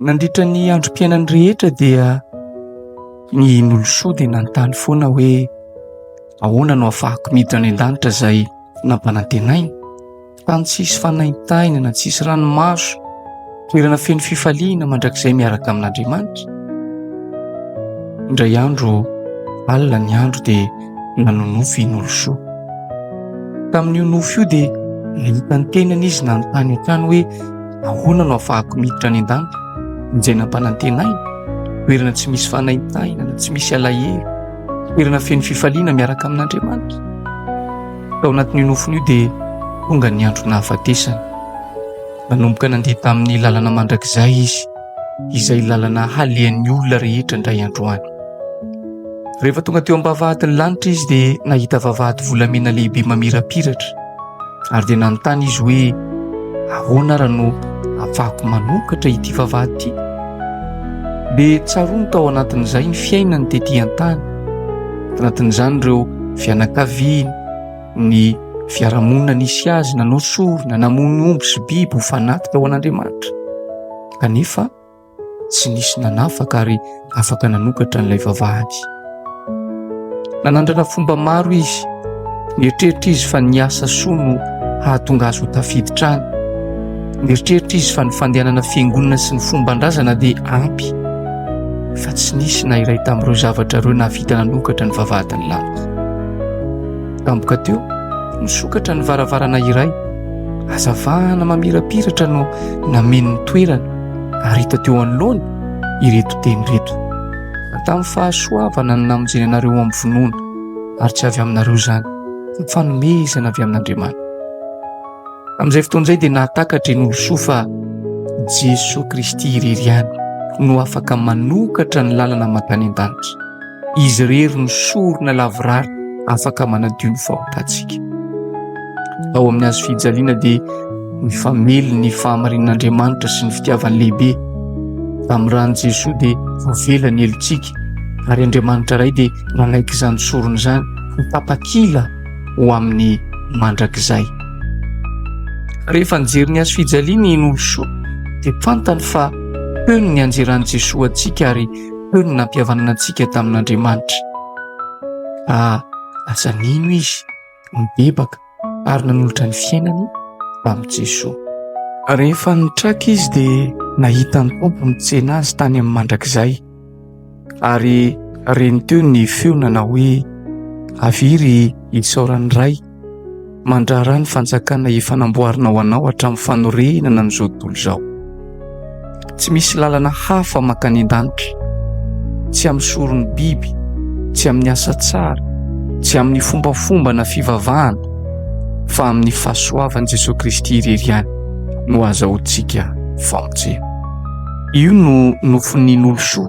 Nandritra ny androm-piainany rehetra dia ny Nolosoa dia nanontany foana hoe ahoana no afahako miditra any an-danitra izay nampanantenainy. Tany tsisy fanaintahina na tsisy ranomaso, toerana feno fifaliana mandrakizay miaraka amin'Andriamanitra. Indray andro alina ny andro dia nanonofy i Nolosoa. Tamin'io nofy io dia nahita ny tenany izy nanontany hatrany hoe Ahoana no afahako miditra any an-danitra? Izay nampanantenaina, toerana tsy misy fanaintainana, tsy misy alahelo, toerana feno fifaliana miaraka amin'Andriamanitra. Tao anatin'io nofon'io dia tonga ny andro nahafatesany. Nanomboka nandeha tamin'ny lalana mandrakizay izy. izay lalana halehan'ny olona rehetra indray androany. Rehefa tonga teo am-bavahadin'ny lanitra izy dia nahita vavahady volamena lehibe mamirapiratra ary dia nanontany izy hoe ahoana ary no afahako manokatra ity vavahady ity. Dia tsaroany tao anatin'izay ny fiainany tetỳ an-tany, tanatin'izany ireo fianakaviany, ny fiarahamonina nisy azy nanao sorona namono omby sy biby ho fanaty tao an'Andriamanitra kanefa tsy nisy nanafaka ary afaka nanokatra an'ilay vavahady nanandrana fomba maro izy nieritreritra izy fa ny asa soa no hahatonga azy ho tafiditra any nieritreritra izy fa ny fandehanana fiangonana sy ny fomba andrazana dia ampy fa tsy nisy na iray tamin'ireo zavatra ireo nahavita nanokatra ny vavahadin'ny lalina Tampoka teo, nisokatra ny varavarana iray. Hazavana mamirapiratra no nameno ny toerana ary hita teo anoloany ireto teny ireto. Tamin'ny fahasoavana no namonjena anareo ho amin'ny finoana ary tsy avy aminareo izany, fa fanomezana avy amin'Andriamanitra. Amin'izay fotoana izay dia nahatakatra i Nolosoa fa Jesoa Kristy irery ihany no afaka manokatra ny lalana mankany an-danitra. Izy irery no sorona lavorary afaka manadio ny fahotantsika. Ao amin'ny hazo fijaliana dia mifamely ny fahamarinan'Andriamanitra sy ny fitiavany lehibe. Amin'ny ran'i Jesoa dia voavela ny helotsika ary Andriamanitra Ray dia nanaiky izany sorona izany ho tapakila ho amin'ny mandrakizay. Rehefa nijery ny hazo fijaliana i Nolosoa dia fantany fa teo ny nianjeran'i Jesoa antsika ary Teo ny nampihavanana antsika tamin'Andriamanitra. Raha lasa nino izy, nibebaka ary nanolotra ny fiainany tamin'i Jesoa. Rehefa nitraka izy dia nahita ny Tompo nitsena azy tany amin'ny mandrakizay ary reny teo ny feo nanao hoe, Avia ry isaoran'ny Ray. Mandraharaha ny fanjakana efa namboarina ho anao hatramin'ny fanorenana an'izao tontolo izao. Tsy misy lalana hafa mankany an-danitra, tsy amin'ny soron'ny biby, tsy amin'ny asa tsara, tsy amin'ny fombafomba na fivavahana, fa amin'ny fahasoavan'i Jesoa Kristy irery ihany no azahoantsika famonjena. Io no nofon'ny nolosoa.